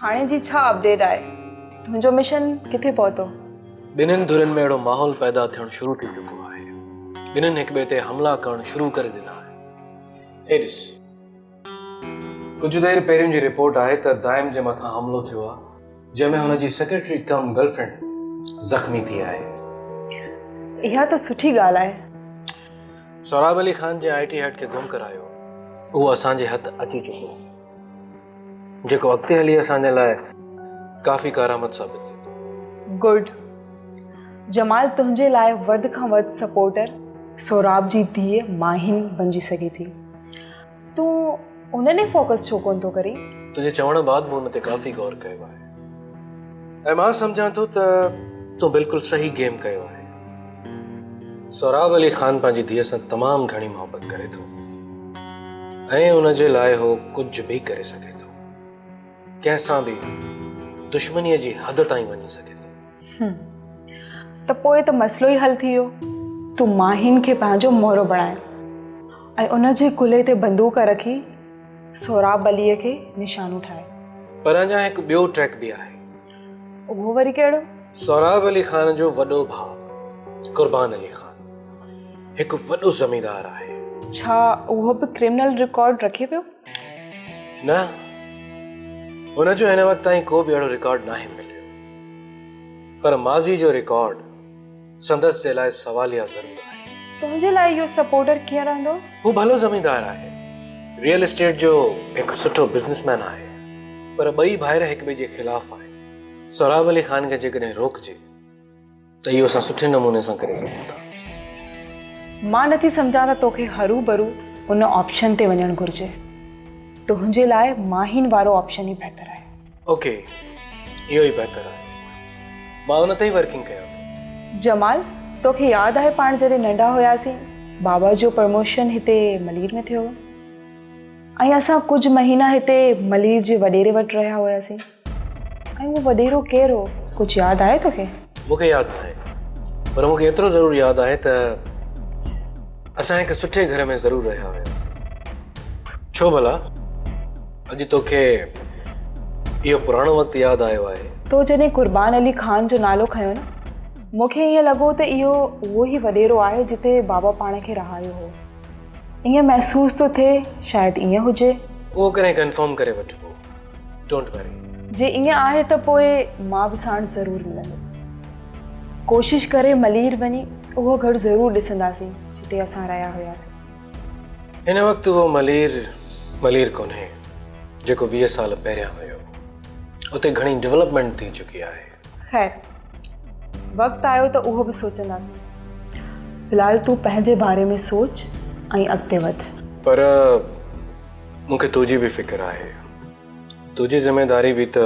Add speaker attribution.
Speaker 1: هاڻي جي ڇا اپڊيٽ آهي تنهنجو مشن ڪٿي پهتو. ٻنهين ڌرين
Speaker 2: ۾ اهڙو ماحول پيدا ٿيڻ شروع ٿي چڪو آهي ٻنهين هڪ ٻئي تي حملا ڪرڻ شروع ڪري ڏنا آهن هي ڏس ڪجهه دير پهريون جي رپورٽ آهي ته دائم جي مٿان حملو ٿيو آهي جنهن ۾ هن جي سيڪريٽري ڪم گرل فرينڊ زخمي ٿي آهي
Speaker 1: اها ته سٺي ڳالهه آهي.
Speaker 2: سهراب علي خان جنهن آئي ٽي هيڊ کي گم ڪرايو اهو اسان جي هٿ اچي چڪو. جيڪو اڳتي هلي اسان جي لاء ڪافي ڪارآمد ثابت ٿيندو. گڊ
Speaker 1: جمال تنهنجي لاء وڌ کان وڌ سپورٽر سهراب جي ڌيء ماهين بنجي سگهي ٿي. تون ان ڏي فوڪس ڇو ڪونه ٿو ڪرين؟ تنهنجي چوڻ بعد
Speaker 2: مون ان تي ڪافي غور ڪيو آهي. ۽ مان سمجهان ٿو ته تون بلڪل صحيح گيم ڪيو آهي سهراب علي خان پنهنجي ڌيء سان تمام گهڻي محبت ڪري ٿو ۽ ان جي لاء هو ڪجهه به ڪري سگهي ٿو ڪنهن سان به دشمنيء جي حد تائين وڃي سگهي ٿو
Speaker 1: ته پوء ته مسئلو ئي حل ٿي ويو تون ماهين کي پنهنجو مورو بڻايو ۽ ان جي ڪلهي تي بندوق رکي سهراب عليء کي نشانو ٺاهي. پر اڃا هڪ
Speaker 2: ٻيو ٽريڪ به آهي. اهو وري
Speaker 1: ڪهڙو؟ سهراب علي خان
Speaker 2: جو وڏو ڀاء قربان علي خان هڪ وڏو زميندار آهي. ڇا اهو
Speaker 1: به ڪرمنل رڪارڊ رکي پيو؟ نه،
Speaker 2: هن جو هن وقت تائين ڪو به اهڙو رڪارڊ ناهي مليو. پر ماضي جو رڪارڊ. سندس جي لاء سواليا ضرور آهي. تنهنجي لاء اهو سپورٽر
Speaker 1: ڪيئن رهندو؟ هو ڀلو زميندار
Speaker 2: آهي. ريئل اسٽيٽ جو هڪ سٺو بزنس مين آهي. پر ٻئي ڀائر هڪ ٻئي جي خلاف آهن. سهراب علي خان کي جيڪڏهن روڪجي ته اهو اسان سٺي نموني سان ڪري سگهون ٿا.
Speaker 1: مان نٿي سمجهان ته توکي هروڀرو ان آپشن تي وڃڻ گهرجي. تنهنجي لاء ماهين وارو آپشن ئي بهتر آهي. اوڪي
Speaker 2: اهو ئي بهتر آهي مان ان تي ئي ورڪنگ ڪيان ٿو. جمال
Speaker 1: توکي ياد آهي پاڻ جڏهن ننڍا هياسين بابا جو پرموشن هتي ملير ۾ ٿيو هو ۽ اسان ڪجهه مهينا هتي ملير جي وڏيري وٽ رهيا هياسين ۽ اهو وڏيرو ڪير هو ڪجهه ياد آهي توکي مون کي ياد ناهي
Speaker 2: پر مون کي ايترو ضرور ياد آهي ته اسان هڪ سٺي گهر ۾ ضرور رهيا هياسين ڇو ڀلا اڄ توکي اهو پراڻو وقت ياد آيو آهي. تو جڏهن قربان
Speaker 1: علي خان جو نالو کنيو نه مون کي ائين لڳو ته اهو اهو ئي وڏيرو آهي جتي بابا پاڻ کي رهايو هو. ائين محسوس ٿو ٿئي شايد ائين هجي. اهو ڪڏهن ڪنفرم
Speaker 2: ڪري وٺبو. ڊونٽ وري. جي ائين آهي ته پوء
Speaker 1: مان به ساڻس ضرور ملندس. ڪوشش ڪري ملير وڃي اهو گهر ضرور ڏسنداسين جتي اسان رهيا هياسين. هن
Speaker 2: وقت اهو ملير ملير ڪونهي جيڪو ويهه سال پهريان هيو. اتي گهڻي ڊولپمينٽ ٿي چڪي آهي. خير
Speaker 1: وقت آيو ته اهو به سوچنداسين. في الحال تون پنهنجي باري ۾ سوچ ۽ اڳتي وڌ. پر
Speaker 2: مون کي تنهنجي به فڪر آهي. تنهنجي ذميواري به ته.